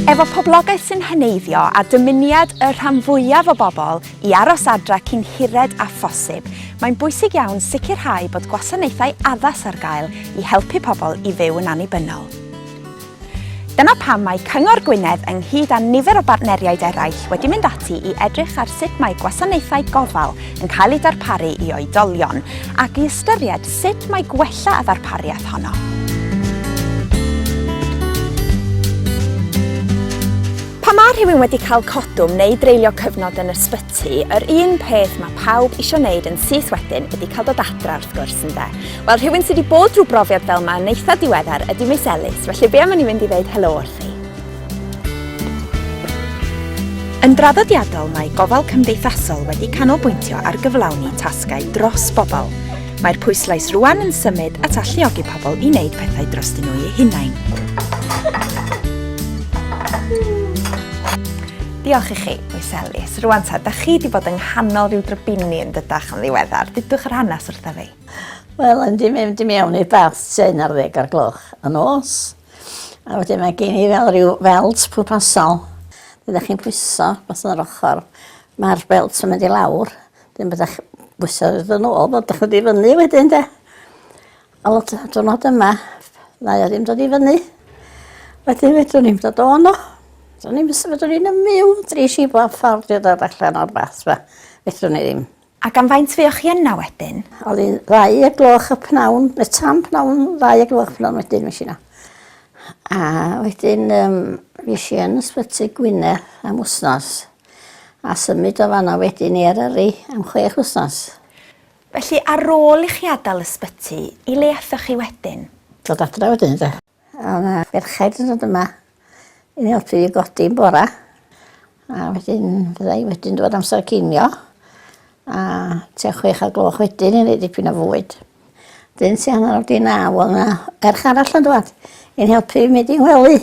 Efo poblogaeth sy'n heneiddio a dymuniad y rhan fwyaf o bobl i aros adra cyn hired â phosib, mae'n bwysig iawn sicrhau bod gwasanaethau addas ar gael i helpu pobl i fyw yn annibynnol. Dyna pam mae Cyngor Gwynedd ynghyd â nifer o bartneriaid eraill wedi mynd ati i edrych ar sut mae gwasanaethau gofal yn cael eu darparu i oedolion ac i ystyried sut mae gwella y ddarpariaeth honno. Pan mae rhywun wedi cael codwm neu dreulio cyfnod yn ysbyty, yr un peth mae pawb eisiau wneud yn syth wedyn ydy cael dod adra wrth gwrs ynde. Wel, rhywun sydd wedi bod drwy brofiad fel yma yn eitha diweddar ydy Miss Ellis, felly be am i ni fynd i ddeud helo wrth hi? Yn draddodiadol, mae gofal cymdeithasol wedi canolbwyntio ar gyflawni tasgau dros bobl. Mae'r pwyslais rwan yn symud at alluogi pobl i wneud pethau dros dyn nhw eu hunain. Diolch i chi, Miss Ellis. Rwan ta, da chi wedi bod yng nghanol rhyw drybini yn dydach yn ddiweddar. Dudwch yr hanes wrtha fi. Wel, yn di mynd i mewn i'r bath tua'n ar ddeg ar gloch y nos. A wedyn mae gen i fel rhyw felt pwrpasol. Byddwch chi'n pwyso beth yn yr ochr. Mae'r belt yn mynd i lawr. Dyn byddwch bwyso yn ôl, byddwch yn difynnu wedyn de. A lot o dwrnod yma, ddau o ddim dod i fyny. Wedyn fedrwn ni'n dod o'n o. Do'n i'n fedrwn ni'n ymyw, dri si bob ffordd i ddod allan o'r bath fa. Fedrwn ni ddim. Ac am faint fuoch chi yna wedyn? Oedd hi'n ddau o gloch y pnawn, neu tan pnawn ddau o gloch y pnawn wedyn fues i yna. A wedyn um, fues i yn ysbyty Gwynedd am wsnos. A symud o fanna wedyn i Eryri am chwech wsnos. Felly ar ôl i chi adael ysbyty, i le aethoch chi wedyn? Dod adre wedyn de. A o'dd 'na ferched yn dod yma i helpu fi godi yn bora. A wedyn fydda i wedyn dod amser cinio. A tua chwech o'r gloch wedyn i neud dipyn o fwyd. Dyn tua hanner awr 'di naw o'dd 'na ferch arall yn dŵad i'n helpu fi mynd i'n ngwely.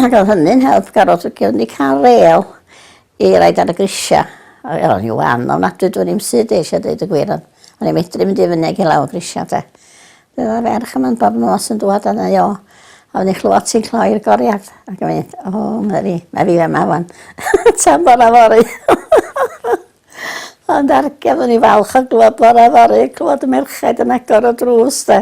Ag o'dd hynny'n help garot 'c'os o'n i ca'l rêl I raid ar y grisiau. Wel, o'n i wan ofnadwy, dwi'n i'm sydd eisiau dweud y gwir, ond o'n i'n medru mynd i fyny ag i lawr grisiau, de. Bydd yna ferch yma'n bob nos yn dwad yna, jo. A o'n i'n chlywed ti'n cloi'r goriad. Ac yn mynd, o, oh, Mary, mae fi yma wan. Tan bora fori. ond argedd o'n i falch o glywed bora fori, clywed y merchaid yn agor o drws, de.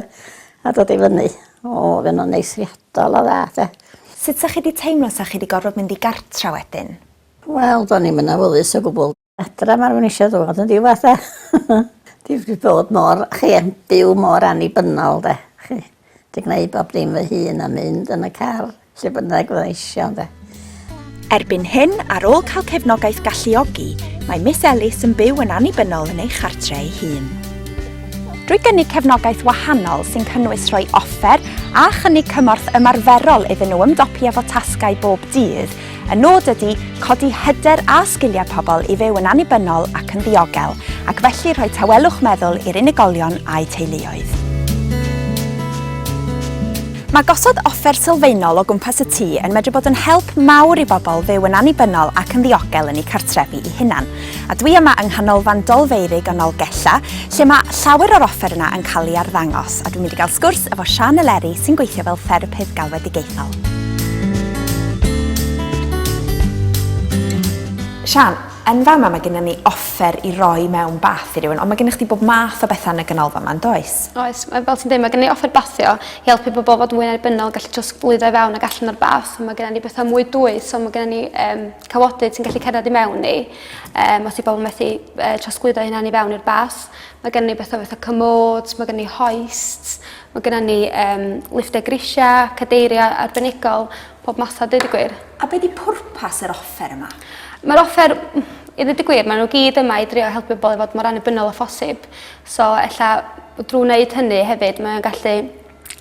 A dod i fyny. O o'dd e'n anneithiadol o dda 'de. Sut 'sa chi 'di teimlo 'sa chi 'di gorfod mynd i gartra wedyn? Wel do'n i'm yn awyddus o gwbwl. Adra ma'r wn isio ddod yn ddiwadd 'de. Dwi 'di bod mor chi yn byw mor annibynnol 'de chi 'di gneud bob dim fy hun a mynd yn y car Lle bynnag fydda eisiau, ynde. Erbyn hyn, ar ôl cael cefnogaeth galluogi, mae Miss Ellis yn byw yn annibynnol yn ei chartre ei hun. Drwy gynnig cefnogaeth wahanol sy'n cynnwys rhoi offer a chynnig cymorth ymarferol iddyn nhw ymdopi efo tasgau bob dydd, Y nod ydy codi hyder a sgiliau pobl i fyw yn annibynnol ac yn ddiogel, ac felly rhoi tawelwch meddwl i'r unigolion a'u teuluoedd. Mae gosod offer sylfaenol o gwmpas y tŷ yn medru bod yn help mawr i bobl fyw yn annibynnol ac yn ddiogel yn eu cartrefi eu hunain. A dwi yma yng Nghanolfan Dolfeurig yn Nolgella, lle mae llawer o'r offer yna yn cael ei arddangos, a dwi'n mynd i gael sgwrs efo Siân Eleri sy'n gweithio fel therapydd galwedigaethol. Siân, yn fama mae gennym ni offer i roi mewn bath i rywun, ond mae gennych chdi bob math o bethau yn y ganolfan yma, yn does? Oes, mae- fel ti'n dweud, mae gennym ni offer bathio i helpu pobl fod mwy annibynnol, gallu trosglwyddo i fewn ac allan o'r bath. Mae gennym ni bethau mwy dwys, so mae gennym ni yym cawodydd sy'n gallu cerdded i mewn ni. Um, os i bobl methu uh, trosglwyddo hynna'n i fewn i'r bas. Mae gen ni bethau fatha cymod, mae gen ni hoist, mae gen ni um, lifftau grisiau, cadeiriau arbenigol, pob math o dweud y gwir. A beth di pwrpas yr offer yma? Mae'r offer, i ddweud y gwir, maen nhw gyd yma i drio helpu bobl i fod mor annibynnol o ffosib. So, ella, drwy wneud hynny hefyd, mae'n gallu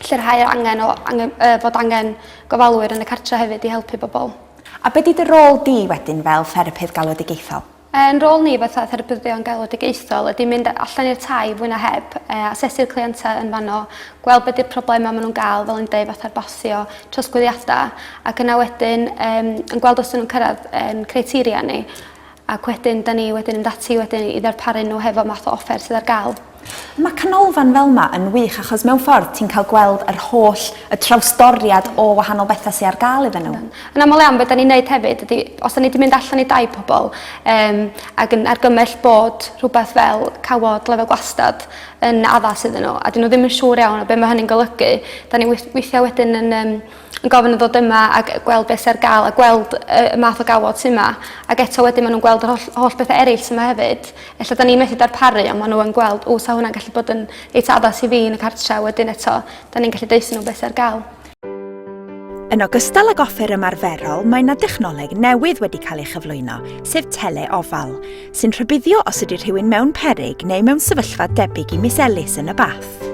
lleirhau angen o angen, uh, fod angen gofalwyr yn y cartre hefyd i helpu bobl. A be 'di dy rôl di wedyn fel therapydd galwedigaethol? Ein rôl ni fatha therapyddion galwedigaethol ydi mynd allan i'r tai fwy na heb, yy asesu'r cleientau yn fanno, gweld be 'di'r problema ma' nw'n ga'l fel o'n i'n deud fatha'r basio, trosglwyddiada, ac yna wedyn yym yn gweld os 'dyn nw'n cyrradd ein criteria ni. Ac wedyn, da ni wedyn yn mynd ati wedyn i ddarparu nhw hefo math o offer sydd ar gael. Mae canolfan fel ma yn wych achos mewn ffordd ti'n cael gweld yr holl, y trawsdoriad o wahanol bethau sy ar gael iddyn nhw. Yn aml iawn be da ni'n neud hefyd ydi os da ni di mynd allan i dai pobl yym ac yn argymell bod rhywbeth fel cawod lefel gwastad yn addas iddyn nhw a dyn nhw ddim yn siŵr iawn o be ma hynny'n golygu da ni weith- weithia wedyn yn yym yn gofyn i ddod yma ag yy gweld beth sy ar ga'l a gweld yy y math o gawod sy 'ma ag eto wedyn ma' nw'n gweld yr holl holl bethe eryll sy 'ma hefyd. Ella 'dan ni methu darparu on' ma' n'w yn gweld o 'sa hwnna'n gallu bod yn reit addas i fi yn y cartre a wedyn eto 'dan ni'n gallu deutho n'w be' sy ar ga'l. Yn ogystal ag offer ymarferol mae 'na dechnoleg newydd wedi cael ei chyflwyno, sef tele-ofal, sy'n rhybuddio os ydy rhywun mewn peryg neu mewn sefyllfa debyg i Miss Ellis yn y bath.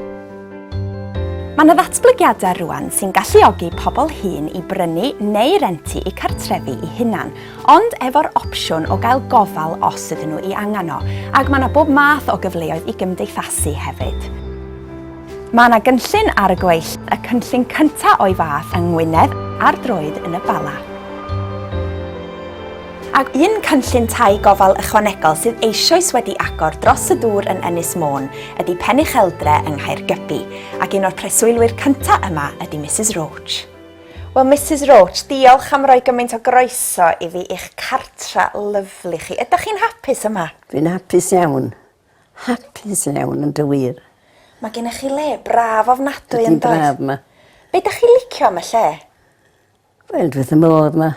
Mae yna ddatblygiadau rwan sy'n galluogi pobl hŷn i brynu neu rentu eu cartrefi eu hunan, ond efo'r opsiwn o gael gofal os ydyn nhw i angen o, ac mae yna bob math o gyfleoedd i gymdeithasu hefyd. Mae yna gynllun ar y gweill, y cynllun cyntaf o'i fath yng Ngwynedd ar droed yn y Bala. Ac un cynllun tai gofal ychwanegol sydd eisoes wedi agor dros y dŵr yn Ynys Môn ydy Pen Ucheldre yng Nghaergybi, ac un o'r preswylwyr cyntaf yma ydy Misus Roach. Wel Misus Roach, diolch am roi gymaint o groeso i fi i'ch cartra lyfli chi. Ydych chi'n hapus yma? Dwi'n hapus iawn. Hapus iawn yn dy wir. Mae gennych chi le braf ofnadwy yn does? Ydi'n braf 'ma. Be' 'dach chi licio am y lle? Wel dwi wrth fy modd 'ma.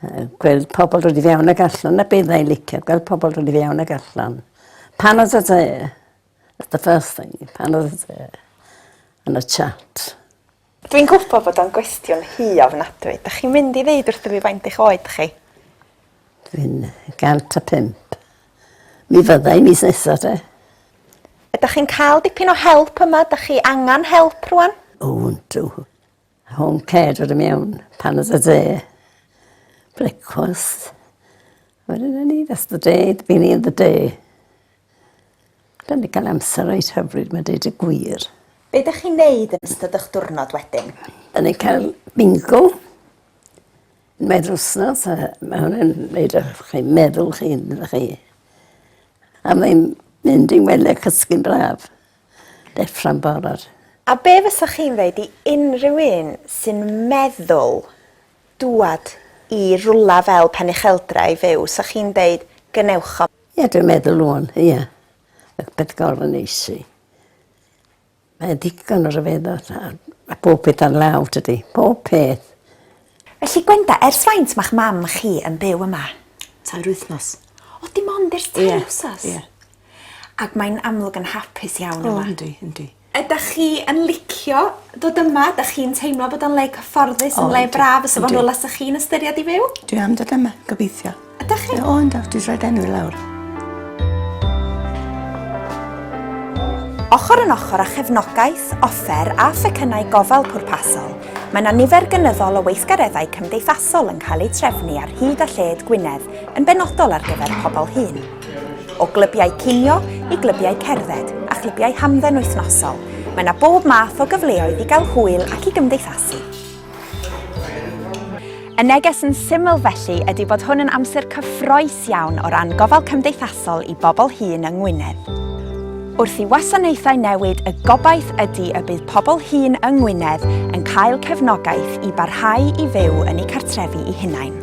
Yy gweld pobol dod i fewn ag allan 'na be' fyddai i'n licio gweld pobol dod i fewn ag allan. Pan odd y tŷ that's the first thing pan odd y tŷ yn y chat. Dwi'n gwbo bod o'n gwestiwn hŷ ofnadwy. 'Dach chi'n mynd i ddeud wrtho fi faint eich oed chi? Dwi'n yy gant a pump. Mi fydda i mis nesa 'te. Ydach chi'n ca'l dipyn o help yma 'dach chi angan help rŵan? O yndw. Home care dod i mewn pan oedd y dde. Brecwast. Wedyn o'n ni that's the day, beginning of the day. Da ni cael amser reit hyfryd mae deud y gwir. Be da chi'n neud yn ystod o'ch diwrnod wedyn? Da ni cael bingo. Mae'r wsnos, mae hwnna'n neud o'ch chi meddwl chi'n chi. A mae'n mynd i'n wely cysgu'n braf. Deffro'n barod. A be fysach chi'n ddeud i unrhyw un sy'n meddwl dŵad i rwla fel Penycheldra i fyw, 'sach chi'n deud gwnewch o? Ie dwi'n meddwl ŵan ie. Mae peth gorau yn neis i. Mae digon o ryfeddod a a pob peth ar law tydi? Pob peth. Felly Gwenda, ers faint ma'ch mam chi yn byw yma? Tair wythnos. O, dim ond ers tair Ie, wsos? ie. Ac mae'n amlwg yn hapus iawn yma. O, yndi, yndi. Ydach chi yn licio dod yma? Ydach chi'n teimlo bod o'n le cyfforddus, yn le braf fysa fo'n rwla 'sych chi'n ystyried i fyw? Dwi am dod yma, gobeithio. Ydych chi? O, yn dawt, dwi'n rhaid enw i lawr. Ochr yn ochr â chefnogaeth, offer a phecynnau gofal pwrpasol, mae yna nifer gynyddol o weithgareddau cymdeithasol yn cael eu trefnu ar hyd a lled Gwynedd yn benodol ar gyfer pobl hŷn. O glybiau cinio i glybiau cerdded a chlybiau hamdden wythnosol, mae yna bob math o gyfleoedd i gael hwyl ac i gymdeithasu. Y neges yn syml felly ydy bod hwn yn amser cyffroes iawn o ran gofal cymdeithasol i bobl hŷn yng Ngwynedd. Wrth i wasanaethau newid y gobaith ydy y bydd pobl hŷn yng Ngwynedd yn cael cefnogaeth i barhau i fyw yn eu cartrefi i hunain.